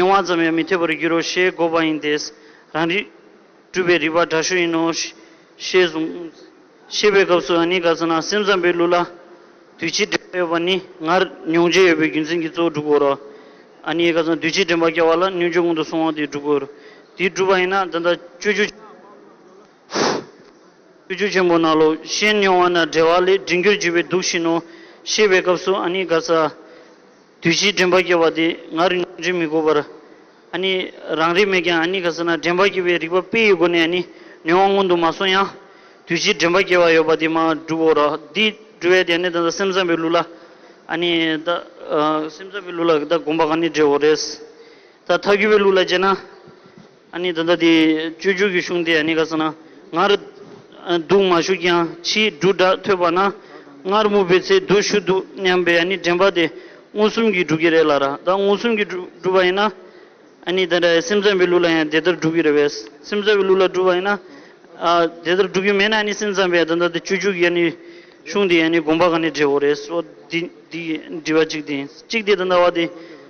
ཡིད་དབང་ཙམ་ཡང་མི་འཐད་པར་འགྱུར་རོ་ཞེས་བསྒོ་བ་ཡིན་ཏེ། རང་རིག། སྤྲུལ་པའི་རིག་པ་དྲག་ཤུལ་ཡིན་ནོ། ཞེས་གསུངས། ཤེས་པའི་སྐབས་སུའང་ནི་ག་ཚོད་ན་སེམས་ཙམ་པའི་ལུགས་ལ། འདུས་བྱས་འདྲེན་པ་ཡོད་པ་ནི་ངར་མྱོང་བྱེད་ཡོད་པའི་རྒྱུ་མཚན་གྱིས་གཙོ་བོ་དྲུག་གོ། ཨ་ནི་ག་ཚོད་ན་འདུས་བྱས་འདྲེན་པར་བསྐལ་བ་ལ་སྙོན་འཇུག་སྔོན་དུ་སོང་བ་དེའི་དྲུག་གོ། དེའི་དྲུག་པ་ཡིན་ན་ད་ལྟ་སྤྱོད་རྒྱུ། སྤྱོད་རྒྱུ་ཆེན་པོ་ན་ལོ་ཤེས་མྱོང་བ་ན་བྲལ་བ་ལས་འབྲིང་རྒྱུར་གྱུར་པའི་དུག་བཞིན་ནོ། ཤེས་པའི་སྐབས་སུ་ཨ་ནི་ག་ཚ། དུས་བཞིའི་དྲན་པ་སྐྱེ་བ་དེ་ང་རིང་པོ་འདྲེན་མི་དགོས་པར། རང་རིག་མེད་ཀྱང་ག་ཚོད་ན་དྲན་པ་སྐྱེ་བའི་རིག་པ་དཔེ་ཡི་སྒོ་ནས་ནུས་དབང་མངོན་དུ་མ་སོང་ཡང། དུས་བཞིའི་དྲན་པ་སྐྱེ་བ་ཡོད་པ་དེ་མ་གྲུབ་བོ། འདི་གྲུབ་བས་དེ་ནི་ད་ལྟ་སེམས་ཙམ་པའི་ལུགས་ལ། སེམས་ཙམ་པའི་ལུགས་ལ་ད་གོམས་པ་ག་ནི་འདྲེ་བོ་རེད། ད་མཐའ་འཁྱོལ་བའི་ལུགས་ལ་དཔྱད་ན། ཨ་ནི་ད་ལྟ་དེ་བཅོས་བསྒྱུར་གྱི་གཞུང་དེ་ཨ་ནི་ག་ས་ན་ངར་འདུག་མ་བཞུགས་ཀྱང་ཕྱིའི་འབྲུ་སྒྲ་ཐོས་པ་ན་ངར་སྨུག་པའི་ཚེ་འདུག་བཞུགས་འདུག་སྙམ་པའི་ཨ་ནི་དྲན་པ་དེ་མངོན་སུམ་གྱིས་འགྲུབ་ཀྱི་རེད་ལ་ར་ད་མངོན་སུམ་གྱིས་འགྲུབ་པ་ཡིན་ན་ཨ་ནི་ད་ར་སེམས་ཙམ་པའི་ལུགས་ལ་ཡང་དེ་ལྟར་འགྲུབ་ཀྱི་རེད་བས་སེམས་ཙམ་པའི་ལུགས་ལ་འགྲུབ་པ་ཡིན་ན་དེ་ལྟར་འགྲུབ་ཀྱི་མེད་ན་ཨ་ནི་སེམས་ཙམ་པས་ད་ལྟ་དེ་བཅོས་བསྒྱུར་གྱི་ཨ་ནི་གཞུང་དེ་ཨ་ནི་དགོངས་པ་ག་ནས་འགྲེལ་འོ་རེད་འོ་འདི་འདི་འདྲི་བ་གཅིག་དེ་གཅིག་དེ་ད་ལྟ་བ་དེ།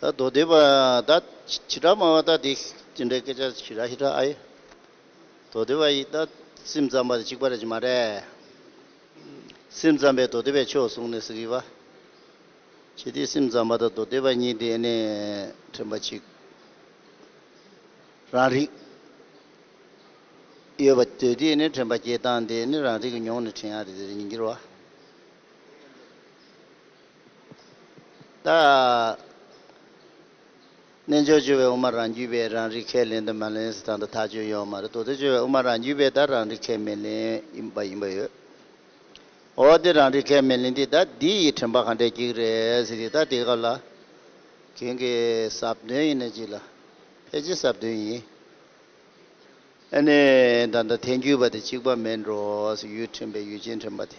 ད་མདོ་སྡེ་པ་དག་བྱེ་བྲག་སྨྲ་བ་དག་དེ་ཅི་འདྲའི་སྐད་ཆ་ཞིག་ར་ཧི་ཏྲ་ཨ་ཡེ། མདོ་སྡེ་པ་ཡིས་ད་སེམས་ཙམ་པ་དེ་གཅིག་པ་རེད་ཀྱི་མ་རེད། སེམས་ཙམ་པས་མདོ་སྡེ་པའི་ཕྱོགས་བཟུང་ནས་ཟེར་གི་པ། ཁྱེད་དེ་སེམས་ཙམ་པ་དང་མདོ་སྡེ་པ་གཉིས་དེ་ནས་དྲན་པ་ཅིག་རང་རིག་ཡོད་པ་དུས་དེ་ནས་དྲན་པ་སྐྱེ་སྟངས་དེ་ནི་རང་རིག་གི་མྱོང་ནས་དྲན་ཡ་རེད་དེ་རེད་ཉིན་འགྱུར་བ། རྣལ་འབྱོར་སྤྱོད་པའི་དབུ་མ་རང་རྒྱུད་པས་རང་རིག་ཁས་ལེན་དུ་མ་ལེན་སོ་ད་དུ་ཐག་ཆོད་ཡོད་མ་རེད་དོ་དེ་སྤྱོད་པའི་དབུ་མ་རང་རྒྱུད་པས་ད་རང་རིག་ཁས་མི་ལེན་ཡིན་པ་ཡིན་པ་ཡོད་འོ་དེ་རང་རིག་ཁས་མི་ལེན་དེ་ད་འདི་ཡི་དྲན་པ་ག་འདྲའི་སྐྱིག་རེད་ཟེར་གི་ད་དེ་སྐབས་ལ་གྱོན་གི་ཟབ་དོན་ཡིན་ན་ཅིག་ལ་ཕལ་ཆེར་ཟབ་དོན་ཡིན་ཨེ་ནས་ད་ད་ཐལ་འགྱུར་པ་དེ་གཅིག་པ་མེད་འགྲོ་ཟེར་ཡུལ་དྲན་པའི་ཡུལ་ཅན་དྲན་པ་དེ།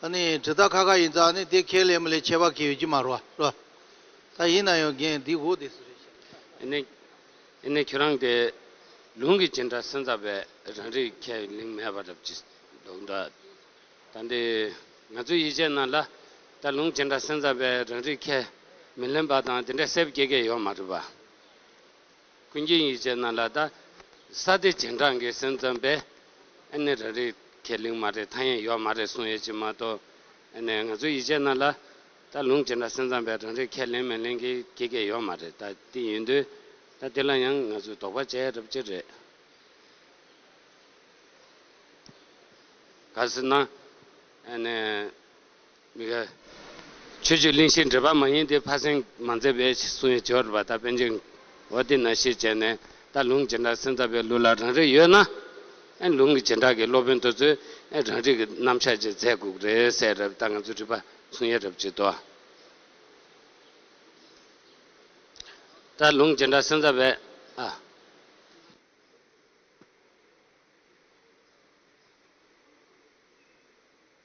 ད་ནི་དྲི་རྟགས་ཁ་ཁ་ཡིན་ཙང་ནི་དེ་ཁས་ལེན་མི་ལེན་ཁྱད་པར་གྱི་ཡོད་ཀྱི་མ་རོ། ད་ཡིན་ན་ཡང་རྒན་འདིས་འོ་དེ་སུ་རེད་བཤད་ན། ཨེ་ནས། ཨེ་ནས་ཁྱོད་རང་གི་ལུང་གི་ཇི་འདྲ་སེམས་ཙམ་པས་རང་རིག་ཁས་ལེན་མེད་པ་རབ་ཀྱི་འདུག་འདྲ། ད་འདི་ང་ཚོས་ཡིད་ཆེས་ན་ལ་ད་ལུང་ཇི་འདྲ་སེམས་ཙམ་པས་རང་རིག་ཁས་མི་ལེན་པ་དང་དེ་འདྲའི་སེབས་སྐྱེ་གི་ཡོད་མ་རེད་པ། ཀུན་མཁྱེན་ཡིད་བྱེད་རྣམས་ལ་དང། ས་སྡེ་སྦྱིན་བྲག་འགའི་སེམས་ཙམ་པས། ཨེ་ནི་ར་རི་ཁས་ལིང་མ་རེད་ཐང་ཡན་ཡོག་མ་རེད་གསུང་ཡོད་ཅིག་མ་གཏོགས། ཨེ་ནི་ང་ཚོའི་ཡིད་བྱེད་རྣམས་ལ། ད་ལུང་སྦྱིན་བྲག་སེམས་ཙམ་པས་རང་རེ་ཁས་ལེན་མི་ལེན་གྱི་ཁྱི་སྐད་ཡོག་མ་རེད་ད་དེ་ཡིན་དུས། ད་དེ་ལ་ཡང་ང་ཚོས་དོགས་པ་བྱས་རབས་ཀྱི་རེད། ག་ཟེར་ན། ཨེ་ནི། མི་དགའ། ཆོས་བརྒྱུད་གླིང་ཤེས་འབྲེལ་པ་མ་ཡིན་ཏེ་ཕ་སེང་མ་མཛད་པས་གསུང་ཡིག་བཅོལ་བ་ད་པན་ཆེན་འོ་དེ་ན་ཤེས་བྱས་ནས་ད་ལུང་བྱེ་བྲག་སེང་རྟ་པའི་ལུགས་ལ་རང་རེ་ཡོད་ན་ཨེ་ལུང་གི་བྱེ་བྲག་གི་སློབ་དཔོན་དོལ་ཚོས་ཨེ་རང་རིགས་ཀྱི་རྣམ་གཞག་ཅིག་མཛད་དགོས་ཀྱི་རེད་སེ་རབ་ད་ང་ཚོས་དྲིས་པ་མཚུངས་ཡ་རབ་བྱེད་དོ། ད་ལུང་བྱེ་བྲག་སེང་རྟ་པའི་ཨ།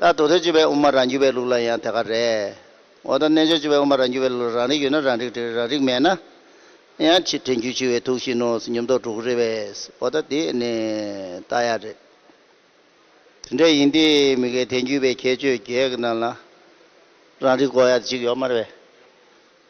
ད་དུར་ཐོན་བྱེད་པའི་དབུ་མ་རང་རྒྱུད་པའི་ལུགས་ལ་ཡང་དེ་ག་རེད། འོ་ད་རྣལ་འབྱོར་བྱེད་པའི་དབུ་མ་རང་རྒྱུད་པའི་ལུགས་ལ་རང་རིག་ཡོད་ན་རང་རིག་བྲི་རང་རིག་མེད་ན་ཡང་ཕྱིར་དྲན་རྒྱུ་འཆི་བའི་དུག་བཞིན་ནོ་ཉམས་རྟོགས་གྲུབ་གི་རེད་བས་འོ་ད་དེ་ནི་ལྟ་ཡག་རེད། དེ་འདྲ་ཡིན་དུས་མི་གའི་དེང་རྒྱུད་པའི་ཁྱད་ཆོས་བརྒྱད་ཀྱི་ནང་ལ་རང་རིག་གོ་ཡག་གཅིག་ཡོད་མ་རེད་བས།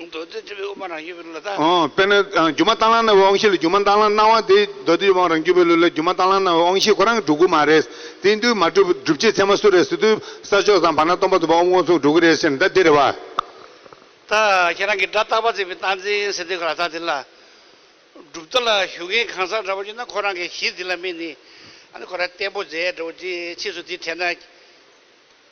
མདོ་སྡེ་སྤྱི་བོའི་དབུ་མ་རང་རྒྱུད་པའི་ལུས་ལ་བལྟ། དཔེར་ན། སྒྱུ་མ་རྟ་གླང་རྣ་བའི་དབང་ཤེས་ལ་སྒྱུ་མ་རྟ་གླང་སྣང་བ་དེ་མདོ་སྡེའི་དབང་རང་རྒྱུད་པའི་ལུས་ལ་སྒྱུ་མ་རྟ་གླང་རྣ་བའི་དབང་ཤེས་ཁོ་རང་གི་གྲུ་གུ་མ་རེད། དེའི་འདུས་མ་བསྒྲུབས་པའི་སྒྲུབ་བྱེད་ཚད་མ་སུ་རེད་ཟེར་དུས་ས་ཕྱོགས་སམ་བར་སྣང་སྟོང་པ་རྫོགས་པ་དབུ་མཁོང་ཚུགས་གྲུ་གུ་རེད་ཟེར་ན་ད་དེ་རེད་བ། ད་ཁྱེད་རང་གིས་སྒྲ་རྟག་པ་བརྩིས་པའི་རྟགས་འཛིན་ཟེར་དུས་ག་ལ་རྟགས་དེ་ལ། སྒྲུབ་རྟགས་ལ་ཞུགས་མཁན་གང་ཟག་འདྲ་པོ་ཡོད་ན་ཁོ་རང་གི་གཞི་འདི་ལ་སྨིན་ནི། ཨ་ནི་ཁོ་རང་བརྟན་པོ་མཛད་འགྲོ་བ་ཅི་ཕྱིས་སུ་དེ་བྲལ་ན།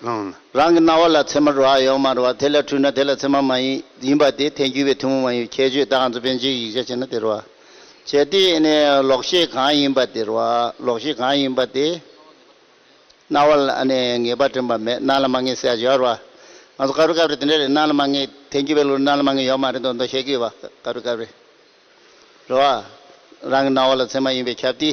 སྣང་ན། རང་གི་རྣ་བ་ལ་མཚན་མར་རོ་ཡོད་མ་རེད་བ་དེ་ལ་འཁྲུལ་ན་དེ་ལ་མཚན་མ་མ་ཡིན་ཡིན་པ་དེ་ཐལ་འགྱུར་བའི་ཐུན་མོང་མ་ཡིན་པའི་ཁྱད་ཆོས་དག་འཛོམས་པའི་འཇིག་ཡིག་ཆ་བྱས་ན་དེ་རོ། བྱས་དེ་ནས་ལོག་ཤེས་གང་ཡིན་པ་དེ་རོ། ལོག་ཤེས་གང་ཡིན་པ་དེ། རྣ་བ་ལ་ངེས་པ་དྲན་པ་མེད་སྣ་ལ་མ་ངེས་སེ་ཡོད་རེད་བ། ང་ཚོ་དཀར་བོའི་སྐབས་རེ་དེ་འདྲ་རེད་སྣ་ལ་མ་ངེས་ཐལ་འགྱུར་བའི་ལུགས་རེ་སྣ་ལ་མ་ངེས་ཡོད་མ་རེད་མདོག་མདོག་བཤད་གི་ཡོད་བ་དཀར་བོའི་སྐབས་རེ་རེད་བ། རང་གི་རྣ་བ་ལ་མཚན་མ་ཡིན་པའི་ཁྱབ་དེ།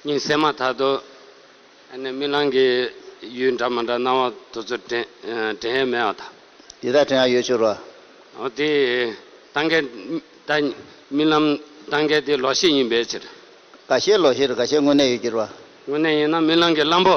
སྙིང་སེམས་མ་ཐག་ཏུ། ཨ་ནི་རྨི་ལམ་གྱི་ཡུལ་འདྲ་མ་འདྲ་སྣང་བ་དུ་ཚོད་དྲན་ཡས་མེད་བ་དང། འདི་དག་དྲན་ཡ་ཡོད་ཕྱིར་རོ། འོ་དེ་ལྟ་འགལ་ལྟ། རྨི་ལམ་ལྟ་འགལ་དེ་ལོག་ཤེས་ཡིན་པའི་ཕྱིར། འགའ་ཤས་ལོག་ཤེས་རེད་འགའ་ཤས་དངོས་གནས་ཡོད་ཀྱི་རོ། དངོས་གནས་ཡིན་ན་རྨི་ལམ་གྱི་གླང་པོ།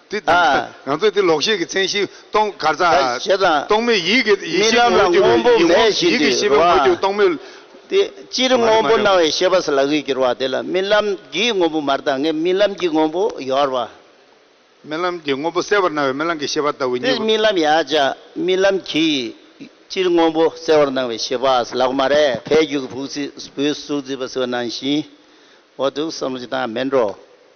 དེ་དང་འདྲ། ང་ཚོས་དེ་ལོག་ཤེས་ཀྱི་མཚན་གཞི་སྟོང་གར་ཚ། རྟོག་མེད་ཡིད་ཀྱི་ཡེ་ཤེས་ངོ་བོ་གྱུར་པའི་ཡིད་འོང་ཡིད་ཀྱི་ཤེས་པའི་ངོ་བོ་སྟོང་མེད། དེ་སྤྱིར་དངོས་པོ་སྣང་བའི་ཤེས་པ་ས་ལ་གིས་གྱུར་པ་དེ་ལ་རྨི་ལམ་གྱི་དངོས་པོ་མར་དངས་རྨི་ལམ་གྱི་དངོས་པོ་ཡོར་བ། རྨི་ལམ་གྱི་དངོས་པོ་གསལ་བར་སྣང་བའི་རྨི་ལམ་གྱི་ཤེས་པ་ལྟ་བུ་གཉིས་དེ་པོ། རྨི་ལམ་ཡང་བྱ། རྨི་ལམ་གྱིས་སྤྱིར་དངོས་པོ་གསལ་བར་སྣང་བའི་ཤེས་པ་ས་ལ་གོ་མ་རེད་ཕའི་རྒྱུད་ཀྱི་བུ་གཟིགས་བུའི་གཟུགས་གཟིགས་པ་ཟེར་བ་ནང་བཞིན་འོ་དུག་གསུམ་གྱི་དངས་མེད་འགྲོ།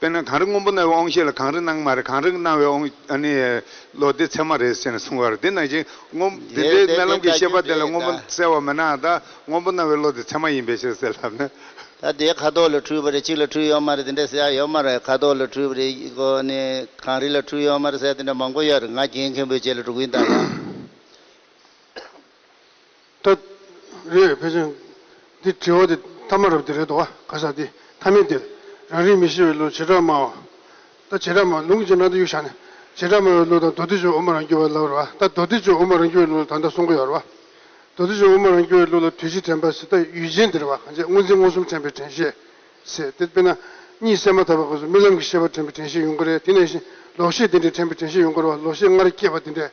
དཔེར་ན་གངས་རི་སྔོན་པོ་གནའ་བོའི་ཨོང་ཤེས་ལ་གངས་རི་གནང་མ་རེད་གངས་རི་གནའ་བོའི་ཨོང་ལོ་དེ་ཚད་མ་རེད་ཅེས་གསུངས་བར་དེ་ནང་བཞིན་སྔོན་དེ་འདྲའི་གནའ་ལམ་གྱི་ཤེས་པ་དེ་ལ་སྔོན་པོ་གསལ་བ་མེད་ནའང་ད་སྔོན་པོ་གནའ་བོའི་ལོ་དེ་ཚད་མ་ཡིན་པས་ཞེས་ཟེར་ལབ་ན། ད་དེའི་ཁ་དོག་ལ་འཁྲུལ་བ་རེད་གཅིག་ལ་འཁྲུལ་ཡོད་མ་རེད་དེ་འདྲའི་གསལ་ཡོད་མ་རེད་ཁ་དོག་ལ་འཁྲུལ་བ་རེད་གངས་རི་ལ་འཁྲུལ་ཡོད་མ་རེད་གསལ་དེ་འདྲ་མང་པོ་ཡོད་རེད་ང་རྒྱལ་མཁན་པོའི་རྗེས་ལ་འགྲོ་གིན་གདའ་ལ། ལྟ། རེད་ཕལ་ཆེར། འདི་དྲི་བ་དེ་ཐ་མ་རབ་དེ་རེད་དོ། ག་ས་དེ་ཐ་མའི་དེར། རང་རིག་མི་ཤེས་བའི་བློ་བྱེ་བྲག་སྨྲ་བ། ལྟ། བྱེ་བྲག་སྨྲ་ལུང་གི་རྗེས་འབྲང་དུ་གཡུག་བཞག་ནས། བྱེ་བྲག་སྨྲ་བའི་བློ་དང་མདོ་སྡེ་ཆོས་དབུ་མ་རང་རྒྱུད་བར་ལབ་རོགས་ཨ། ལྟ། མདོ་སྡེ་ཆོས་དབུ་མ་རང་རྒྱུད་བའི་བློ་ལ་ད་ལྟ་གསུང་གི་ཡོད་རོགས་ཨ། མདོ་སྡེ་ཆོས་དབུ་མ་རང་རྒྱུད་བའི་བློ་ལ་དུས་གཅིག་དྲན་པ་ཟེར་ལྟ་ཡུལ་ཅན་དེར་བ་གང་ཆད་སྔོ་འཛིན་མངོན་སུམ་དྲན་པའི་དྲན་ཤེས། ཟེར་ཏེ་དཔེར་ན། གཉིད་སད་མ་ཐག་པའི་སྐབས་སུ་རྨི་ལམ་གྱི་ཤེས་པ་དྲན་པའི་དྲན་ཤེས་ཡོང་གི་རེད་དེ་ནས་བཞིན་ལོག་ཤེས་དེ་འདྲའི་དྲན་པའི་དྲན་ཤེས་ཡོང་གི་རོགས་ལོག་ཤེས་སྔར་སྐྱེས་པ་དེ་འདྲས།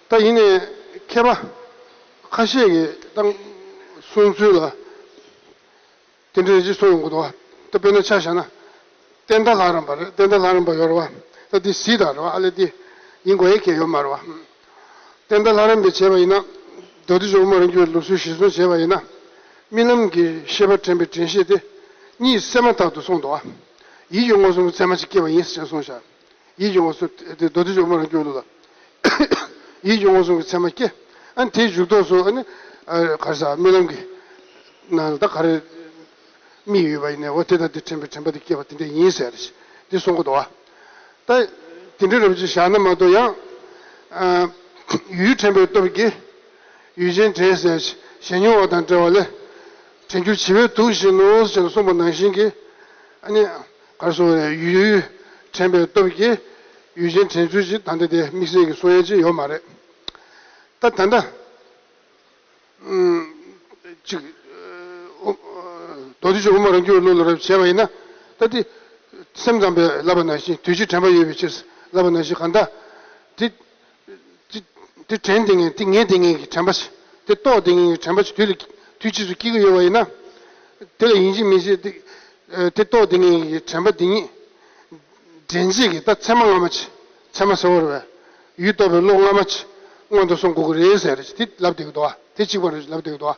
ད་ཡིན་ནས་མཁས་པ་ཁ་ཤས་ཀྱིས་བཏང་གསུང་ཚུལ་ལ་དེ་འདྲའི་རྗེས་ཐོགས་ཡོང་གི་འདུག་ཨ། ད་དཔེར་ན་ཆ་བཞག་ན། བསྟན་དར་ལྷ་རམས་པ་རེད་བསྟན་དར་ལྷ་རམས་པ་ཡོད་རེད་བ། ད་འདི་སྲིད་དར་རེད་བ་ཨ་ལས་འདི་ཡིན་དགོས་ཡ་ཁྱད་ཡོད་མ་རེད་བ། བསྟན་དར་ལྷ་རམས་པས་བྱས་པ་ཡིན་ན། མདོ་སྡེ་ཇོ་མོ་རང་རྒྱུད་ལུགས་སྲོལ་གཞིར་བཟུང་བྱས་པ་ཡིན་ན། རྨི་ལམ་གྱི་ཤེས་པ་དྲན་པའི་དྲན་ཤེས་དེ་གཉིས་བསྲེས་མ་ཐག་ཏུ་སོང་འདུག་ཨ། ཡིད་ཀྱི་མངོན་སུམ་ཚད་མ་ཅིག་སྐྱེས་པ་ཡིན་ཟེར་གསུངས་བཞག། ཡིད་འབྱུང་བ་སོགས་ཀྱི་ཚད་མ་སྐྱེ། ཡིད་འབྱུང་བ་སོགས་ཀྱི་ཚད་མ་སྐྱེ། དེའི་མཇུག་ཐོགས་སུ། གར་ས་རྨི་ལམ་གྱི་ནང་ད་ག་རེ་རྨིས་ཡོད་པ་ཡིན་ནའོ། དེ་ལྟར་དེ་དྲན་པའི་དྲན་པ་དེ་སྐྱེས་པ་དེ་འདྲ་ཡིན་ཟེར། འདི་གསུང་གོ་དོ། ད་དེ་འདྲ་རབ་ཅིག་བཞག་ན་མ་གཏོགས་ཡང། ཡུལ་དྲན་པའི་སྟོབས་ཀྱིས་ཡུལ་ཅན་དྲན་ཟེར། གཞན་མྱོང་བ་དང་བྲལ་བ་ལས། དྲན་འགྱུར་བྱི་བའི་དུག་བཞིན་ནོ་ཞེས་གསུངས་པ་ནང་བཞིན་གྱི། གར་སོང་བའི་ཡུལ་ཡུལ་དྲན་པའི་སྟོབས་ཀྱིས་ཡུལ་ཅན་དྲན་ཚུལ་ཞིག་ད་ལྟ་དེ་དམིགས་བསལ་གྱི་སོ་ཡན་ཅིག་ཡོད་མ་རེད། ད་ད་ལྟ། གཅིག། རྡོ་རྗེ་ཆོས་དབུ་མ་རང་རྒྱུད་བློ་ལ་རབ་བྱེད་པ་ཡིན་ན། ད་དེ། སེམས་ཙམ་པས་བསླབ་པ་ན་བཞིན་དུས་གཅིག་དྲན་པ་ཡོད་པའི་ཕྱིར། བསླབ་པ་ན་བཞིན་གང་དག། དེ། དེ་དྲན་དེ་ངས་དེ་ངས་དེ་ངས་ཀྱི་དྲན་པ་ཞིག་དེ་རྟོགས་དེ་ངས་ཀྱི་དྲན་པ་ཞིག་དུས་ལ་དུས་ཕྱིས་སུ་སྐྱེ་གི་ཡོད་པ་ཡིན་ན། དེ་ལ་ཡིན་གཅིག་མིན་གཅིག་དེ་རྟོགས་དེ་ངས་ཀྱི་དྲན་པ་དེ་ཉིད། འདྲེན་བྱེད་ཀྱི་ལྟ་ཚད་མ་སྔ་མ་ཆེ་ཚད་མ་སེར་བོར་བས་ཡུལ་རྟོགས་པའི་བློ་སྔ་མ་ཆེ་སྔོན་དུ་སོང་གོ་གི་རེད་ཟེར་གྱི་དེ་ལབ་བསྡད་ཀྱི་འདུག་བ་དེ་གཅིག་པ་རེད་ཟེར་ལབ་བསྡད་ཀྱི་འདུག་བ།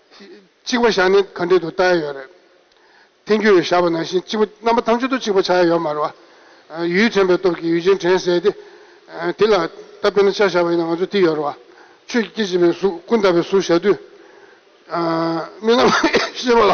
གཅིག་པ་བཞག་ནས་ག་འདྲེ་དུ་བལྟ་ཡ་ཡོད་རེད། ཐེན་རྒྱུ་ཡོད་བཞག་པ་ནང་བཞིན་གཅིག་པ་རྣམ་པ་ཐམས་ཅད་དུ་གཅིག་པ་བྱ་ཡ་ཡོད་མ་རེད་བ། ཡུལ་དྲན་པའི་སྟོབས་ཀྱིས་ཡུལ་ཅན་དྲན་བསད་དེ། དེ་ལ་ད་དཔེར་ན་ཆ་བཞག་པ་ཡིན་ན་ང་ཚོ་དེ་ཡོད་རེད་བ། ཆོས་ཀྱི་སྐྱེ་བྱེད་པའི་གཟུགས་ཀུན་བརྟགས་པའི་གཟུགས་བཞག་དུས། མི་རྣམས་ཤེས་པ་ལ།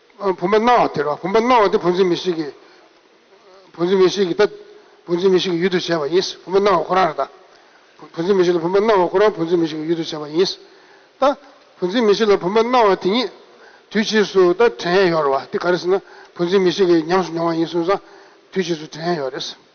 བུམ་པ་སྣང་བ་དེར་བ་བུམ་པ་སྣང་བ་དེ་བུན་འཛིན་མི་ཤིག་གི། བུན་འཛིན་མི་ཤིག་གི་ད། བུན་འཛིན་མི་ཤིག་གི་ཡུལ་དུ་བྱས་པ་ཡིན། བུམ་པ་སྣང་བ་ཁོ་རང་རེད་ད། བུན་འཛིན་མི་ཤིག་ལ་བུམ་པ་སྣང་བ་ཁོ་རང་བུན་འཛིན་མི་ཤིག་གི་ཡུལ་དུ་བྱས་པ་ཡིན། ད། བུན་འཛིན་མི་ཤིག་ལ་བུམ་པ་སྣང་བ་དེ་ཉིད། དུས་ཕྱིས་སུ་ད་དྲན་ཡོད་རེད་བ་དེ་ག་རེ་ཟེར་ན། བུན་འཛིན་མི་ཤིག་གི་ཉམས་སུ་མྱོང་བ་ཡིན་གསུངས་ཙང། དུས་ཕྱིས་སུ་དྲན་ཡོད་རེད།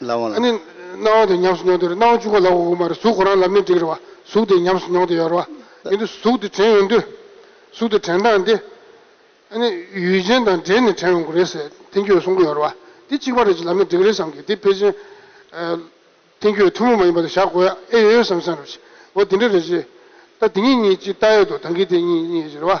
ལ་བ་ལ། ནི། སྣང་བ་དེ་ཉམས་སུ་མྱོང་དུས་རེ་སྣང་བ་བཅུ་གོ་ལ་བ་དབུ་མར་གཟུགས་ཁོ་རང་ལམ་ནི་འགྲིག་རེ་བ་གཟུགས་དེ་ཉམས་སུ་མྱོང་དུ་ཡོད་རེ་བ། ཡིན་དུ་གཟུགས་དེ་དྲན་ཡོང་དུས། གཟུགས་དེ་དྲན་སྟངས་དེ། ནི། ཡུལ་ཅན་དང་འདྲེས་ནས་དྲན་ཡོང་གི་རེད་ཟེར་ཐན་སྐྱོད་གསུང་གི་ཡོད་རེ་བ། དེ་གཅིག་པ་རེད་ཅེས་ལམ་ནི་འགྲིག་རེད་བསམ་གི་དེ་ཕལ་ཆེན། ཐན་སྐྱོད་ཐུན་མོང་མ་ཡིན་པ་དེ་བཞག་དགོས་ཨེ་ཡོད་བསམ་བསམ་རེ་བྱས། འོ་དེ་འདྲ་རེད་ཅེས། ད་དེ་གཉིས་གཉིས་གཅིག་ལྟ་ཡོད་དོ་ད་གི་དེ་གཉིས་གཉིས་རེད་ཅེས་རེ་བ།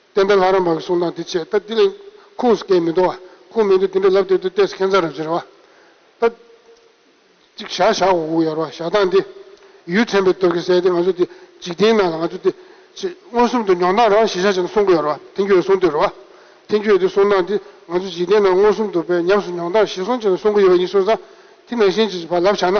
བསྟན་པའི་ལྷ་རམས་པ་གི་གསུང་དང་དེ་ཆད་ད་དེ་ལས་ཁུངས་སུ་སྐད་མི་འདོགས་བ་ཁུངས་མི་འདོགས་དེ་འདྲ་ལབ་སྟེ་དུ་ཏས་ཁན་ཚ་རབས་ཅི་རེ་བ་ད། ཅིག་ཞག་ཞག་འོག་འུག་ཡར་བ་ཞག་སྟངས་དེ། ཡུལ་ཚན་པའི་སྟོབས་ཀྱི་གསལ་ཏེ་ང་ཚོ་དེ་འཇིག་རྟེན་ནང་ལ་ང་ཚོ་དེ། ཅེས་མངོན་སུམ་དུ་མྱོང་སྟངས་རང་གཞི་ཆ་ཅན་དུ་གསུང་གི་ཡོད་རེད་བ་ཐེན་ཁྱོད་གསུང་འདོད་རེད་བ། ཐེན་ཁྱོད་དེ་གསུང་སྟངས་དེ་ང་ཚོ་འཇིག་རྟེན་ནང་མངོན་སུམ་དུ་བས་ཉམས་སུ་མྱོང་སྟངས་གཞི་གསུང་ཅན་དུ་གསུང་གི་ཡོད་པ་ཡིན་གསུང་ས་དེ་ནང་བཞིན་གྱི་བ་ལབ་ཆགས་ན།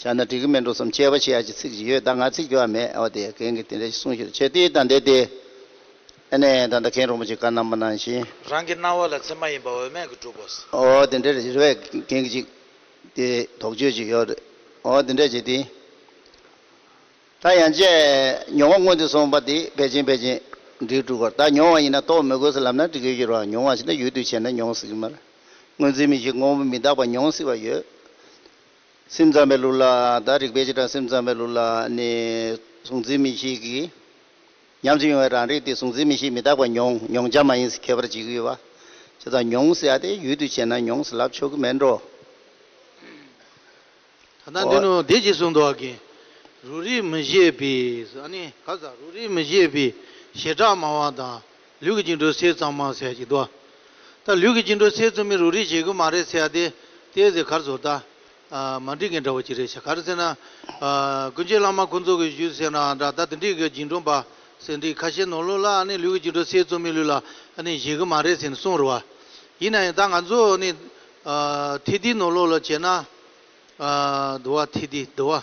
བཞག་ན་འགྲིག་གི་མི་འགྲོ་བསམ་ཁྱད་པར་ཆེ་ཡག་གི་ཚིག་ཅིག་ཡོད་ད་ང་ཚིག་རྒྱུ་བ་མེད་ཨོ་དེ་གན་གི་དེ་འདྲ་ཞིག་གསུང་ཞོར་ཆོས་དེའི་དང་དེ་དེ་ཨེ་ནས་ད་ལྟ་གན་རོང་པོ་ཆེ་བཀའ་གནང་མ་གནང་བཞིན། རང་གི་སྣང་བ་ལ་ཚེ་མ་ཡིན་པ་འོས་མེད་གི་སྒྲུབ་པོ། ཨོ་དེ་འདྲ་རེད་རེ་བས་གན་གི་ཅིག་དེ་དོགས་གཅོད་ཅིག་ཡོད་རེད་ཨོ་དེ་འདྲ་བྱས་དེ། ད་ཡང་བཅས་མྱོང་བ་སྔོན་དུ་སོང་པ་དེ་བེད་ཅིང་བེད་ཅིང་འགྲིག་འགྲུག་གོ་ད་མྱོང་བ་ཡིན་ན་རྟོགས་མི་དགོས་སུ་ལབ་ན་འགྲིག་གི་ཤོར་བ་མྱོང་བ་ཞིག་ན་ཡུལ་དུ་བྱས་ན་མྱོང་སྲིད་གི་མ་རེད་སྔོན་ཚུལ་མི་ཤེས་དངོས་པོ་མི་རྟག་པ་མྱོང་སྲིད་པ་ཡོད། སེམས་ཙམ་པའི་ལུགས་ལ་དང་རིག་པའི་བྱེ་བྲག་སེམས་ཙམ་པའི་ལུགས་ལ་ནི། གཟུང་འཛིན་མི་ཤིགས་ཀྱི་ཉམས་སུ་མྱོང་བའི་རང་རིག་དེ་གཟུང་འཛིན་མི་ཤིགས་མི་རྟག་པ་མྱོང་མྱོང་བྱ་མ་ཡིན་ཟེར་ཁྱད་པར་འབྱེད་ཀྱི་ཡོད་པ། ཅེས་དང། མྱོང་ཟེར་ཡ་དེ་ཡུལ་དུ་བྱས་ན་མྱོང་ཟེར་ལབ་ཆོག་གི་མེད་འགྲོ། ད་ལྟ་འདི་ནི་བདེ་སྐྱིད་གསུང་དོགས་ཀྱི་རུ་རིགས་མི་བཞེད་པའི། ཨ་ནི། ག་ས་རུ་རིགས་མི་བཞེད་པའི་བྱེ་བྲག་སྨྲ་བ་དང། ལུས་ཀྱི་བཅིངས་གྲོལ་སེལ་གཙང་མ་ཟས་ཀྱིས་བཟློག། ད་ལུས་ཀྱི་བཅིངས་གྲོལ་སེལ་རྩོལ་མེད་རུ་རིགས་བྱེད་ཀྱི་མ་རེད་ཟེར་ཡ་དེ་ཟེར་གར་ཟོར་ད། མ་འགྲིག་མཁན་འདྲ་བོ་གཅིག་རེད་ཤག་གར་ཟེར་ན། ཀུན་མཁྱེན་བླ་མ་ཁོང་ཚོ་གི་བཞུད་ཟེར་ན་འདྲ་ད་དེ་འགྲིག་གི་བརྒྱུད་འགྲོ་འབའ་ཟེར་འགྲིག་ཁ་ཤས་ནོར་ལུག་ལ་ཨ་ནི་ལུས་ཀྱི་བཅིངས་གྲོལ་སེལ་རྩོལ་མེད་ལུས་ལ་ཨ་ནི་བྱེད་ཀྱི་མ་རེད་ཟེར་ནས་གསུངས་རུ་བ། ཡིན་ན་ཡང་ད་ང་ཚོ་ནི། ཐིག་འདི་ནོར་ལུག་ལ་བྱས་ན། དུ་བ་ཐིག་འདི་དུ་བ།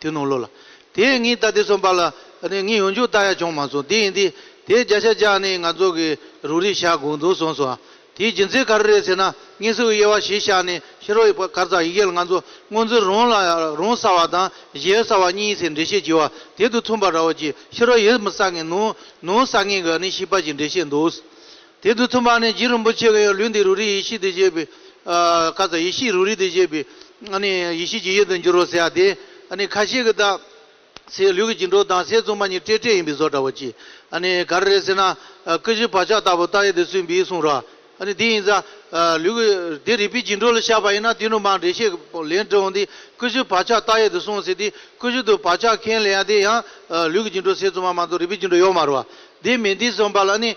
དེ་རྣོ་ལོ་ལ། དེས་ངའི་རྟ་དེ་ཚོ་འབར་ལ། ངས་ཡོང་རྒྱུར་རྟ་ཡ་བྱུང་མ་སོང་དེ་ཡིན་དུས། དེས་རྒྱ་ཤ་རྒྱག་ནས་ང་ཚོ་གི་རུ་རིག་བཞག་དགོས་འདུག་གསུངས་སོང། དེའི་རྒྱུ་མཚན་ག་རེ་རེད་ཟེར་ན། ངའི་སྲི་བོའི་དབྱེ་བ་གཞིར་བཞག་ནས་ཤི་རོ་ཡི་བར་སྐར་ཚགས་ཡི་གེ་ལ་ང་ཚོ་སྔོན་ཚུར་རོང་ལ་རོང་ས་བ་དང་གཞེར་ས་བ་གཉིས་ཟེར་འགྲེལ་བཤད་བགྱི་བ་དེ་དུས་མཚུངས་པ་ར་བ་གྱིས་ཤི་རོ་ཡིར་མི་ས་ངན་ནོ། ནོ་ས་ངན་ག་ནས་ཤི་པ་ཞིག་འགྲེལ་བཤད་འདུག། དེ་དུས་ཐུབ་མ་ནས་རྗེ་རིན་པོ་ཆེ་གིས་ལུས་འདི་རུ་རིའི་ཡེ་ཤེས་འདི་བཞེས་པའི་སྐབས་སུ་ཡེ་ཤེས་རུ་རི་འདི་བཞེས་པའི་ཡེ་ཤེས་ཀྱི་ཡུལ་དུ་འགྱུར་རོ་ཟེར་བ་དེ་ཁ་ཤས་ཀྱིས་བརྟག། སའི་ལུས་ཀྱི་འགྱིང་འགྲོ་དང་སའི་བཙུན་མ་གཉིས་སྤྲེལ་སྤྲེལ་ཡིན་པའི་བཟོ་འདྲ་བོ་ཅི། ག་རེ་རེད་ཟེར་ན། ཀུ་ཤུའི་བག་ཆགས་ལྟ་བུ་བརྟག་ཡས་དེ་སུས་འབིས་གསུངས་རོགས། དེ་ཡིན་ས། ལུས་ཀྱི་དེ་རིག་པའི་འགྱིང་འགྲོ་ལ་ཤར་བ་ཡིན་ན་དེ་ནུ་མ་འགྲེལ་བཤད་ལན་དྲི་འོང་དེ་ཀུ་ཤུའི་བག་ཆགས་བརྟག་ཡས་དེ་གསུངས་ཟེར་དེ་ཀུ་ཤུ་དུ་བག་ཆགས་མཁན་ལ་ཡང་དེ་ཡང་ལུས་ཀྱི་འགྱིང་འགྲོ་སའི་བཙུན་མ་མ་གཏོགས་རིག་པའི་འགྱིང་འགྲོ་ཡོད་མ་རུང་བ། དེ་མིན་དེ་གསུངས་པ་ལ་ནི།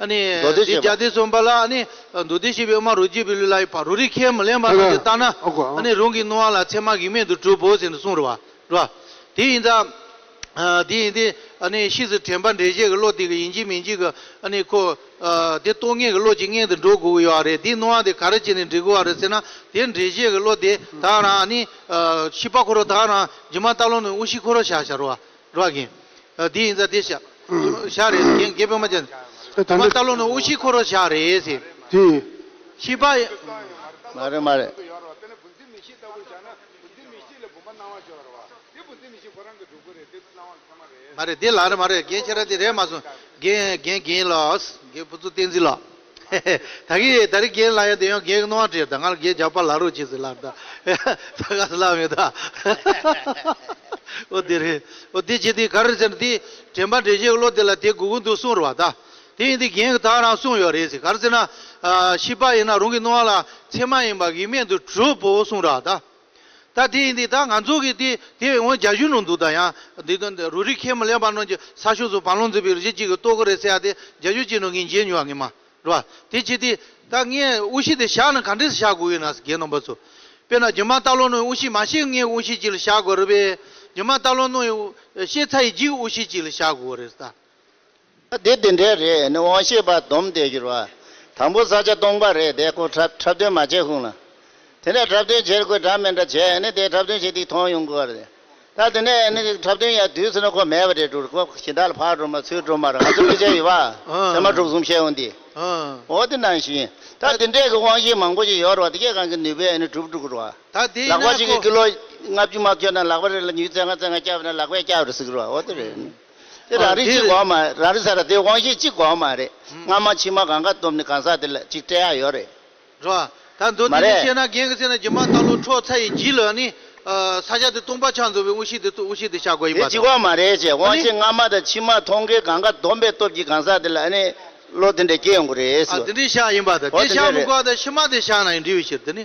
མདོ་སྡེ་བཤད་པ། འདི་གསུམ་པ་ལ་མདོ་སྡེ་བཤད་པའི་དབུ་མ་རོ་རྗེ་བོད་ལུགས་ལ་ཡོད་པ་རོ་རིག་ཁས་མི་ལེན་པ་རྣམས་ཀྱིས་བརྟགས་ན་རང་གི་སྣང་བ་ལ་ཚད་མ་གེགས་མེད་དུ་གྲུབ་བོ་ཟེར་ནས་གསུངས་རོགས། དེ་ཡིན་ཙང། དེ་ཡིན་ཏེ། ཕྱིས་སུ་དྲན་པ་འགྲེལ་བཤད་ཀྱི་བློ་དེ་གི་ཡིན་གཅིག་མིན་གཅིག་གི། ཁོ། དེ་རྟོག་ངེས་ཀྱི་བློ་གཅིག་མངལ་དུ་འགྲོ་དགོས་ཀྱི་ཡོད་པ་རེད་དེའི་སྣང་བ་དེ་ག་རེ་བྱས་ནས་འབྲི་དགོས་པ་རེད་ཟེར་ན་དེ་འགྲེལ་བཤད་ཀྱི་བློ་དེ་དག་རང། ཤེས་པ་འཁོར་བ་དག་རང། སྦྱིན་མ་སྟག་ལུང་ནས་དབུ་ཤི་འཁོར་བ་བྱ་བྱ་རོགས། རོགས་གྱིས། འདི་ཡིན་ཙང་འདི་ཞག་རེད། རྒན་རྒས་དཔོན་མ་ཅན། དེ་མ་ལྟ་ལོ་ནི་དབུ་བཞི་འཁོར་བ་ཞག་རེད། དེ་ཡིན། ཤི་བ། མ་རེད་མ་རེད། མ་རེད་འདི་ལགས་རེད་མ་རེད་རྒན་ཁྱེད་ར་འདི་རེད་མ་སོང། རྒན་རྒན་རྒན་ལགས། རྒན་བུ་ཚུ་བསྟན་འཛིན་ལགས། ད་གི་ད་རི་གེར་ལ་ཡ་དེ་ཡོང་གེ་གི་ནོ་བ་དྲེར་ད་ང་ལ་གེ་རྒྱབ་པ་ལ་རོ་ཅི་སི་ལ་ད་ད་ག་སི་ལ་མེ་ད་ཨོ་དེ་རི་ཨོ་དེ་ཅི་དེ་ག་རི་སེར་དེ་དྲེན་པ་དྲེ་ཞེ་གི་ལོ་དེ་ལ་དེ་གུ་གུ་འདུག་སུང་རི་བ་ད་དེ་ཡིན་དེ་གེ་གི་ད་རང་སུང་ཡོ་རེ་སི་ག་རི་སེར་ན་ཤི་པ་ཡིན་ན་རུང་གི་ནོ་བ་ལ་ཚེ་མ་ཡིན་པ་གི་མེ་དུ་གྲུ་བོ་སུང་ར་ད། ད་དེ་ཡིན་དུས་ད་ང་ཚོ་གིས་དེ་དེ་བས་ངོ་རྒྱ་གཞུང་ནང་འདུག་ད་ཡང་དེ་དོན་དེ་རུ་རིག་མཁན་མི་ལེགས་པ་རྣམས་ཀྱི་ས་ཕྱོགས་སུ་བང་ལོང་འཛིན་པའི་རུ་ཤི་གཅིག་གིས་ལྟོ་གོ་རེ་ཟེར་ཡ་དེ་རྒྱ་གཞུང་གཅིག་ནང་ངས་མཇལ་མྱོང་བ་ངེས་མ་རེད་པ་དེ་བྱས་དུས་ད་ངས་དབུ་ཤི་དེ་བཞག་ན་ག་འདྲས་སུ་བཞག་དགོས་ཡོད་ནའ་རྒན་རྣམ་པ་ཚོ། དཔེར་ན་རྒྱུ་མ་སྟག་ལོང་ནོར་ཡི་དབུ་ཤི་མ་བཤད་ངའི་དབུ་ཤི་གཅིག་ལ་བཞག་དགོས་རེད་པས་རྒྱུ་མ་སྟག་ལོང་ནོར་ཡི་དབུ་ཤེས་ཚ་ཡི་འཇིག་དབུ་ཤི་གཅིག་ལ་བཞག་དགོས་རེད་ད། ད་དེ་དེ་འདྲའི་རེད་ནི་དབང་ཤེས་པ་སྡོམ་བསྡད་རྒྱུར་བ། དང་པོ་ས་ཆ་སྟོང་པ་རེད་དེ་ཁོ་འཁྲབ་འཁྲབ་སྟོན་མ་བྱས་ཤོང་ལ། དེ་ནས་འཁྲབ་སྟོན་བྱེད་དགོས་འདྲ་མེད་འདྲ་བྱས་ནི་དེ་འཁྲབ་སྟོན་བྱེད་དུས་མཐོང་ཡོང་དགོས་རེད། ད་དེ་ནས་ནི་འཁྲབ་སྟོན་ཡ་དུས་སུ་ནི་ཁོ་མེད་པ་རེད་འགྲོ་ཁོ་གཞི་བདག་ལ་ཕར་འགྲོ་མར་ཚུར་འགྲོ་མར་ང་ཚོ་སྐུ་ཕྱྭ་ཡི་བ། སེར་མ་དྲུག་གསུམ་བཤད་ཡོང་དུས། འོ་དེ་ནང་བཞིན། ད་དེ་འདྲས་ཀྱི་དབང་ཤེས་མང་པོ་ཞིག་ཡོད་རེད་བ་དེ་སྐད་གང་གི་ནུས་པས་ནི་གྲུབ་འགྲོ་རེད་བ། ལག་པ་ཞིག་གིས་ཀི་ལོ་ལྔ་བཅུ་མ་ཁྱོད་ན་ལག་པ་རེ་ལ་ཉུལ་ཚེ་ལྔ་ཚེ་ལྔ་སྐྱབས་ན་ལག་པས་སྐྱབས་རེ་ཟིག་རེད་བ་འོ་དེ་རེད། དེ་རང་རིག་གཅིག་གོ་མ་རེད། རང་རིག་ས་ར་དེ་དབང་ཤེས་གཅིག་གོ་མ་རེད། སྔ་མ་ཕྱི་མ་གང་ག་སྟོབས་ནི་གང་ཟག་དེ་ལ་གཅིག་སྤྲད་ཡག་ཡོད་རེད། རེད་ད། མདོ་མ་དེ་ནས་རེད། བཤད་ན་རྒན་གི་ཚེ་ན་སྒྱུ་མ་ལྟ་ལོ་ཁྲོ་ཚ་ཡི་བགྱིས་ལ་ནི། ས་ཆ་དེ་སྟོང་པ་ཆགས་འདུག་པའི་དབུ་ཤེས་དེ་དབུ་ཤེས་དེ་ཤ་གོ་ཡིན་དེ་པ་གཅིག་དང། གོ་མ་རེད་ཅེ་དབང་ཤེས་སྔ་མ་དང་ཕྱི་མ་མཐོང་གི་གང་ག་སྡོམ་པའི་སྟོབས་ཀྱིས་གང་ཟག་དེ་ལ་ཨ་ནི་བློ་དེ་འདྲ་སྐྱེ་ཡོང་གི་རེད། ཨ་དེ་འདྲའི་ཤ་ཡིན་པ་དང་འོ་དེ་དེ་ཤ་འདྲ་མི་རེད། གོ་ད་ཕྱི་མ་དེ་ཤ་ན་ཡིན་འདྲི་བའི་ཕྱིར་དེ་ནི།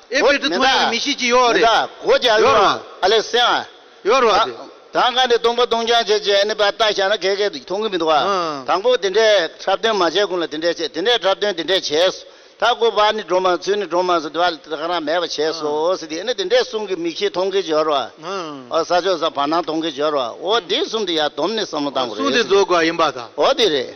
ཨེ་ཕེར་ཏི་ཐོ་ཡོ་གི་མི་ཤེས་ཀྱི་ཡོའོ་རེད། མེ་ད་གོ་རྒྱ་ཡོར་བ། ཡོར་བ་དེ། དང་ག་འདི་སྟོང་པ་སྟོང་རྐྱང་བྱེད་ཅེས་ཨ་ནི་པ་ལྟ་བཞག་ན་གས་གས་འདུག་མཐོང་གི་མི་འདུག་ཨ། དང་པོ་དེ་འདྲས་འཁྲབ་སྟོན་མ་བྱས་གོང་ལ་དེ་འདྲས་བྱས་དེ་འདྲས་འཁྲབ་སྟོན་དེ་འདྲས་བྱས་སོ། ད་གོ་བ་ནི་འགྲོ་མ་ཚུལ་ནི་འགྲོ་མ་ཚུལ་དེ་བ་ལ་དེ་རང་མེད་པ་བྱས་སོ་ཟེར་དེ་ཨ་ནི་དེ་འདྲས་གསུང་གི་མི་ཤེས་མཐོང་གི་ཡོར་བ། ཨོ་ས་ཆོས་ས་བར་སྣང་མཐོང་གི་ཡོར་བ་ཨོ་དེ་གསུང་དེ་ཡ་དོམ་ནི་བསམ་བློ་བཏང་གོ་རེད་ཟེར་དེ། ཨོ་དེ་རེད།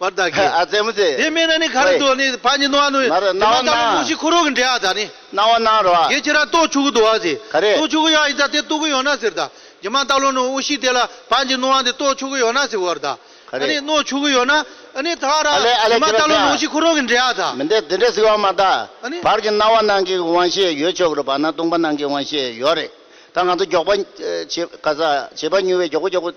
བར་བདག་གིས། ཨ་ཙེ་མོ་ཙེ། དེ་མེད་ན་ནི་ག་རེ་འདོད་ནི་ཕ་ཉིད་ནོ་ཨ་ནུ། ན་རེ་སྣང་བ་སྣང། མོ་ཤི་ཁུ་རུ་གི་འདྲེ་ཨ་ད་ནི། སྣང་བ་སྣང་རོ་ཨ། དེ་ཁྱེད་ར་ཏོག་ཆུ་གུ་དུ་ཨ་ཟི། ག་རེ། ཏོག་ཆུ་གུ་ཡ་ཨི་ད་དེ་ཏུ་གུ་ཡོ་ན་ཟིར་ད། ཇི་མ་ཏག་ལོ་ནུ་ཨུ་ཤི་དེ་ལ་ཕ་ཉིད་ནོ་ཨ་འདི་ཏོག་ཆུ་གུ་ཡོ་ན་ཟི་བར་ད། ག་རེ། ཨ་ནི་ནོ་ཆུ་གུ་ཡོ་ན། ཨ་ནི་ད་ར། ཨ་ལེ་ཨ་ལེ་ཇི་མ་ཏག་ལོ་ནུ་ཨུ་ཤི་ཁུ་རུ་གི་འདྲེ་ཨ་ད། མི་འདི་དེ་འདྲ་ཟི་བ་མ་ད། ཨ་ནི། བར་གྱི་སྣང་བ་སྣང་གི་དབང་ཤེས་ཡོད་ཆོག་གི་རུ་བར་ན་ལྟུང་བ་སྣང་གི་དབང་ཤེས་ཡོད་རེད་ད་ང་ཚོ་མགྱོགས་པ་བྱེད་ག་ས་བྱེད་པ་ཉུལ་བས་མགྱོགས་གུ་མགྱོགས་གུ།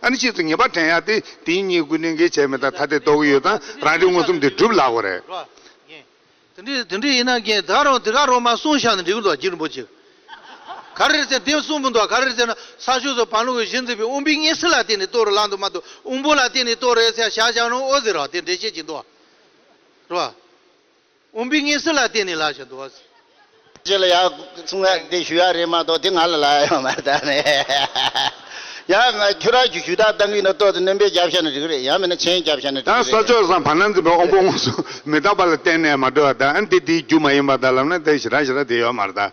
ཨ་ནི་ཕྱིས་སུ་ངེས་པར་དྲན་ཡག་སྟེ་དེ་གཉིས་སྐུ་དྲིན་གྱིས་བྱས་མེད་ད་ཐ་དད་རྟོག་གི་ཡོད་ཙང་རང་རིག་མངོན་སུམ་དེ་སྒྲུབ་ལགས་པ་རེད། དེ་འདྲ་ཡིན་ན་རྒན་དག་རང་དེ་ག་རང་མ་གསུངས་ཤག་ནི་འགྲིག་གི་འདུག་སྒྱིར་འབུ་ཅིག་ག་རེ་རེད་ཟེར་དེ་གསུངས་གི་འདུག་ག་རེ་རེད་ཟེར་ན་ས་ཕྱོགས་སུ་བང་ལུག་གི་གཞི་འཛིན་པའི་དབུང་པའི་གཉེན་སྲིན་ལ་བརྟེན་ནས་གཏོར་རོ་ལགས་འདུག་མ་གཏོགས་དབུང་པོ་ལ་བརྟེན་ནས་གཏོར་རེད་ཟེར་ཤག་ཤག་རང་ཨོ་ཟེར་རོགས་དེ་འདྲས་བཤད་ཀྱི་འདུག་བ། དབོན་པོའི་ངེས་སྲོལ་ལ་བརྟེན་ནས་ལ་ཞིག་འདུ་བ་ཟེར། ཅི་ལ་ཡང་གསུང་ངས་འདི་ཞུ་ཡག་རེད་མ་གཏོགས་དེ་ང་ལ་ལ་ཡང་མ་བལྟ་ནས། ཡང་ང་ཁྱོད་རང་གི་ཞུ་དག་གཏང་གི་ཡིན་ན་ལྟོས་དེ་སྣོན་པའི་རྒྱབ་ཤ་ནས་རིག་རེད་ཡང་མིན་ན་ཆེན་རྒྱབ་ཤ་ནས་ཡང་རིག་ས་རེད། ཆོས་བཟང་བར་སྣང་འཛིན་པའི་དབོན་པོ་དངོས་སུ་མི་རྟག་པ་ལ་བརྟེན་ནས་མ་གྲོལ་བ་དང་འདི་དེའི་རྒྱུ་མ་ཡིན་པ་དང་ལམ་སྣེ་དེར་ཞེ་དྲག་ཞེ་དྲག་དེ་ཡོད་མ་རེད།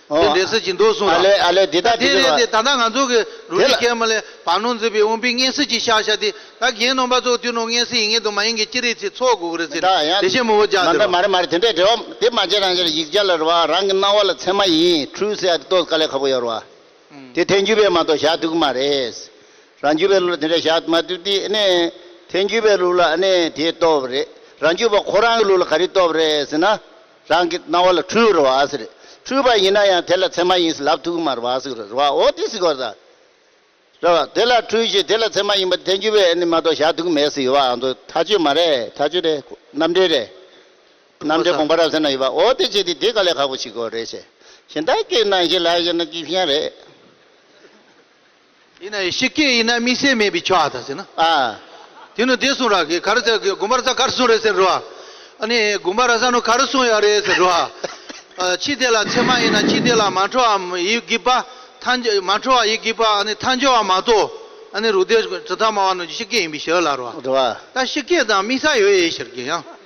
འོ། དེ་འདྲའི་ཟེར་གྱིས་འདུག་གསུངས་ཨ་ལས་ཨ་ལས་འདི་དང་དེ་རེད་ལས། དེ་ད་ལྟ་ང་ཚོ་གི་རུ་དེ་ལ། སྒྲིག་མཁན་མི་ལས་བར་སྣོན་འཛིན་པའི་དབོན་པོའི་སྔས་སྲིད་ཀྱི་ཤག་ཤག་དེ་ད་གྱེན་ནོངས་པ་ཚོ་དུས་ནོངས་སྔས་སྲིད་ཡིན་ངེས་དུ་མ་ཡིན་གྱི་སྤྱི་རིགས་ཚིག་ཚོགས་དགོས་གི་རེད་མི་ཟེར་ནས་དེ་ད། བཞིན་མི་བོ་རྒྱག་མ་འདྲ། འདི་རེད། མ་རེད་མ་རེད་དེ་འདྲས་རེད་འོ། དེ་མ་བྱས་རང་ཤར་ཡིག་བརྒྱ་ལ་རུ་བ་རང་གི་སྣང་བ་ལ་ཚད་མ་ཡིན་འཁྲུལ་ཟེར་ཡག་དེ་ལྟོས་དཀའ་ལས་ཁ་པོ་ཡོད་རུ་བ། དེ་ཐལ་འགྱུར་བས་མ་གཏོགས་བཞག་འདུག་གི་མ་རེད། རང་རྒྱུད་པའི་ལུགས་ལ་དེ་འདྲས་བཞག་མ་འདུག་དེ་ཨེ་ནས། ཐལ་འགྱུར་བའི་ལུགས་ལ་ཨེ་ནས་དེ་ལྟོས་པ་རེད། རང་རྒྱུད་པ་ཁོ་རང་གི་ལུགས་ལ་ག་རེ་ལྟོས་པ་རེད་ཟེར་ན། རང་གི་སྣང་བ་ལ་འཁྲུལ་བར་བ་ཟེར། འཁྲུལ་པ་ཡིན་ན་ཡང་དེ་ལ་ཚད་མ་ཡིན་ཟེར་ལབ་ཐུག་མར་བ་ཟེར་རོ། བ་འོ་དེ་ཟེར་གོ་ཟེར། རེད་བ། དེ་ལ་འཁྲུལ་ཞེས་དེ་ལ་ཚད་མ་ཡིན་པ་དེ་འགྱུར་བའི་ཨེ་ནི་མ་གཏོགས་བཞག་ཐུག་མེད་ཟེར་ཡོད་བ་ཨང་དོ། ཐག་ཆོད་མ་རེད་ཐག་ཆོད་རེད་རྣམ་འགྲེལ་རེད། རྣམ་འགྲེལ་དགོངས་པ་རབ་གསལ་ན་ཡོད་བ་འོ་དེ་བྱས་ཏེ་དེ་ག་ལས་ཁག་པོ་ཞིག་གོ་རེད་བྱས། ཞེན་ད་ཀྱི་ནང་བཞིན་ལ་བཞེད་ན་ཅི་བྱེད་ཡང་རེད། ཡིན་ན་ཡིན་ཤི་སྐད་ཡིན་ན་དམིགས་བསལ་མེད་པའི་ཆོག་ཨ་ད་ཟེར་ན། དེ་ནི་དེ་གསུངས་ར་གི་ག་རི་ཟེར་གི་དགོན་པར་ས་ག་རི་གསུངས་རེད་ཟེར་རོ། ཨ་ནི་དགོན་པ་ར་ས་ནུ་ག་རི་གསུངས་ཡག་རེད་ཟེར་རོ། ཕྱི་དེ་ལ་ཚད་མ་ཡིན་ན་ཕྱི་དེ་ལ་མ་འཕྲོ་བ་ཡི་གི་པ་མཐའ་འཇོ་མ་འཕྲོ་བ་ཡི་གི་པ་ཨ་ནི་མཐའ་འཇོ་བ་མ་ཏོ། ཨ་ནི་རུ་དེ་གྲི་མཐའ་མ་བ་ནུ་ཀྱི་ཤི་སྐད་ཡིན་པའི་ཤི་ཨ་ལ་རོ། ད་ཤི་སྐད་དང་དམིགས་ས་ཡོད་ཨེ་ཟེར་གི་ཡང།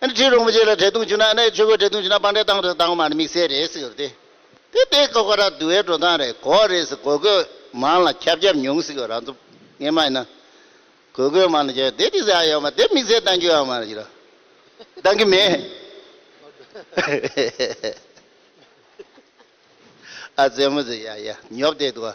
ཨ་ཁྲིའི་རོང་པོ་ཆེ་ལ་བྲེལ་བརྡུང་བྱུང་ན་ཨ་ཆོས་གོས་བྲེལ་བརྡུང་བྱུང་ན་སྤང་བྲེལ་བཏང་བྲེལ་བཏང་མ་དམིགས་བསལ་རེད་ཟེར་ཏེ། དེ་དེ་ཁོ་ཁོ་ར་བསྡུ་བའི་འགྲོ་སྟངས་རེད་གོ་རེད་ཟེར་གོས་གོས་མང་ལ་ཁྱབ་ཁྱབ་མྱོང་སྲིད་གོ་རང་ཚོ་ངེད་མ་ཡིན་ན། གོས་གོས་མང་ལ་ཁྱབ་དེ་དེ་ཟེར་ཨ་ཡོད་མ་དེ་དམིགས་བསལ་བཏང་རྒྱུ་ཨ་མ་རེད་ཀྱི་ར་བཏང་གི་མེད། ཨ་བཙན་མོ་ཟེར་ཡ་ཡ་ཉོབ་བསྡད་འདུག་ཨ།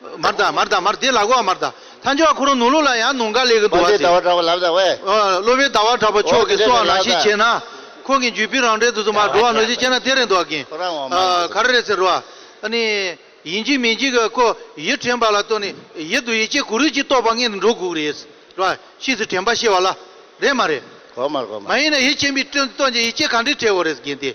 མར་དང་མར་དང་མར་དེ་ལག་གོ་མར་དང། ཐང་ཅོ་བ་ཁོ་རང་ནུང་ལུགས་ལ་ཡང་ནུང་ག་ལེ་གི་འདུག་བ་ཟེར། བློ་བའི་ཟླ་བ་གྲགས་པ་ལབ་ཟ་བས། བློ་བའི་ཟླ་བ་གྲགས་པ་ཆོག་གི་སོགས་ནང་བཞིན་བྱས་ན། ཁོང་གི་འཇུས་པི་རང་འདྲའི་དུ་དུ་མར་འགྲོ་བ་ནོ་ཞེས་བཤད་ན་དེ་རེད་འདུག་གིན། ག་རེ་རེད་ཟེར་རོ། ནི། ཡིན་གཅིག་མིན་གཅིག་གི་ཀོ་ཡི་དྲན་པ་ལ་ལྟོས་ནས་ཡིད་དུ་ཡིད་ཆེས་གུ་རུས་ཀྱིས་རྟོགས་པ་ལྔས་ནི་འགྲོ་འགུགས་རེད། ར། ཤིས་སུ་དྲན་པ་ཤེས་བ་ལ། རེད་མ་རེད། གོ་མར་གོ་མར། མ་ཡིན་ན་ཡིད་ཆེས་མི་ལྟོས་ཀྱི་ཡིད་ཆེས་གང་འདྲས་བྲལ་བོ་རེད་གིན་ཏེ།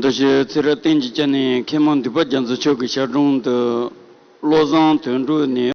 འདི་ཞེས་ཚེ་རབས་བསྟན་གྱི་སྤྱན་ནས་མཁས་མང་འདུས་པ་རྒྱ་མཚོ་མཆོག་གི་ཞལ་དྲུང་དུ་བློ་བཟང་དོན་གྲུབ་ནས།